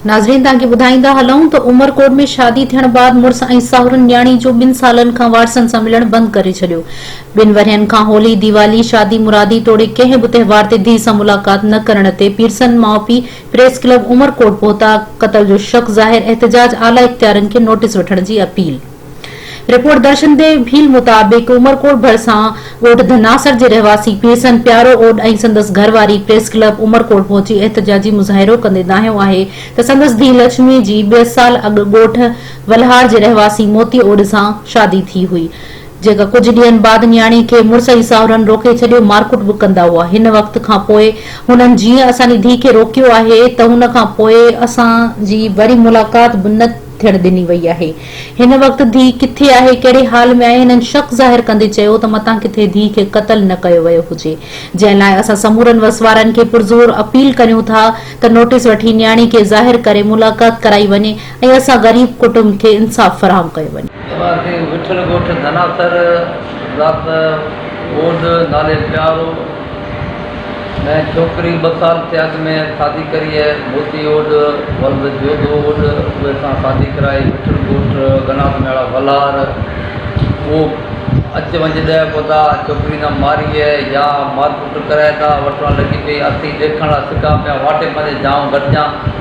ناظرين توهان کي ٻڌائيندا هلون ته عمرڪوٽ ۾ شادي ٿيڻ بعد مڙس ۽ ساهرن نياڻي جو ٻن سالن کان وارثن سان ملڻ بند ڪري ڇڏيو ٻن ورهين کان هولي ديوالي شادي مرادي توڙي ڪنهن به تهوار تي ڌيء سان ملاقات نه ڪرڻ تي پيرسن ماء پيء پريس ڪلب عمر ڪوٽ پهتا، قتل جو شڪ ظاهر، احتجاج اعليٰ اختيارين کي نوٽيس وٺڻ جي appeal. Report Darshan the Bheel مطابق عمر ڪوٽ ڀرسان ڳوٺ ڌناسر جي رهواسي پيرسن پيارو اوڏ ۽ سندس گهر واري پريس ڪلب عمر ڪوٽ پهچي احتجاجي مظاهرو ڪندي دانهيو آهي ته سندس ڌيء لڇمي جي ٻه سال اڳ ڳوٺ ولهار جي رهواسي موتي اوڏ سان شادي ٿي هئي جيڪا ڪجهه ڏينهن بعد نياڻي کي مڙس ۽ ساهرن روڪي ڇڏيو، مارڪٽ به ڪندا هئا. هن وقت کان پوء هنن جيئن اسان جي ڌيء کي روڪيو آهي ته هن کان پوء اسان جي وري ملاقات به نه ٿيڻ ڏني وئي آهي. هن وقت ڌيء ڪٿي آهي، ڪهڙي حال ۾ آهي؟ هنن شڪ ظاهر ڪندي چيو ته متان ڪٿي ڌيء کي قتل نه ڪيو ويو هجي. جنهن لاء اسان سمورن وسوارن کي پرزور اپيل ڪريون ٿا ته نوٽيس وٺي نياڻي کي ظاهر ڪري ملاقات ڪرائي وڃي. ۽ اسان غريب ڪٽنب کي انصاف فراهم ڪيو وڃي. ايمان سنگهه وٺل ڳوٺ ڌناسر ذات ٻوڏ نالي پيارو ۾ ڇوڪري ٻه سال ٿئي اڳ ۾ سادي ڪري هي موتي اوڏ ولد جوڌو اوڏ اهي سان سادي ڪرائي وٺل ڳوٺ گناس مياڙا ولهار اهو اچ وڃ ڏهه ڪودا ڇوڪري نه ماري هي يا مارڪٽ ڪرائي ٿا وٺڻ لڳي پئي اٿي ڏيکڻ لا سڪا پيا واٽي پنهنجي جانء گڏجان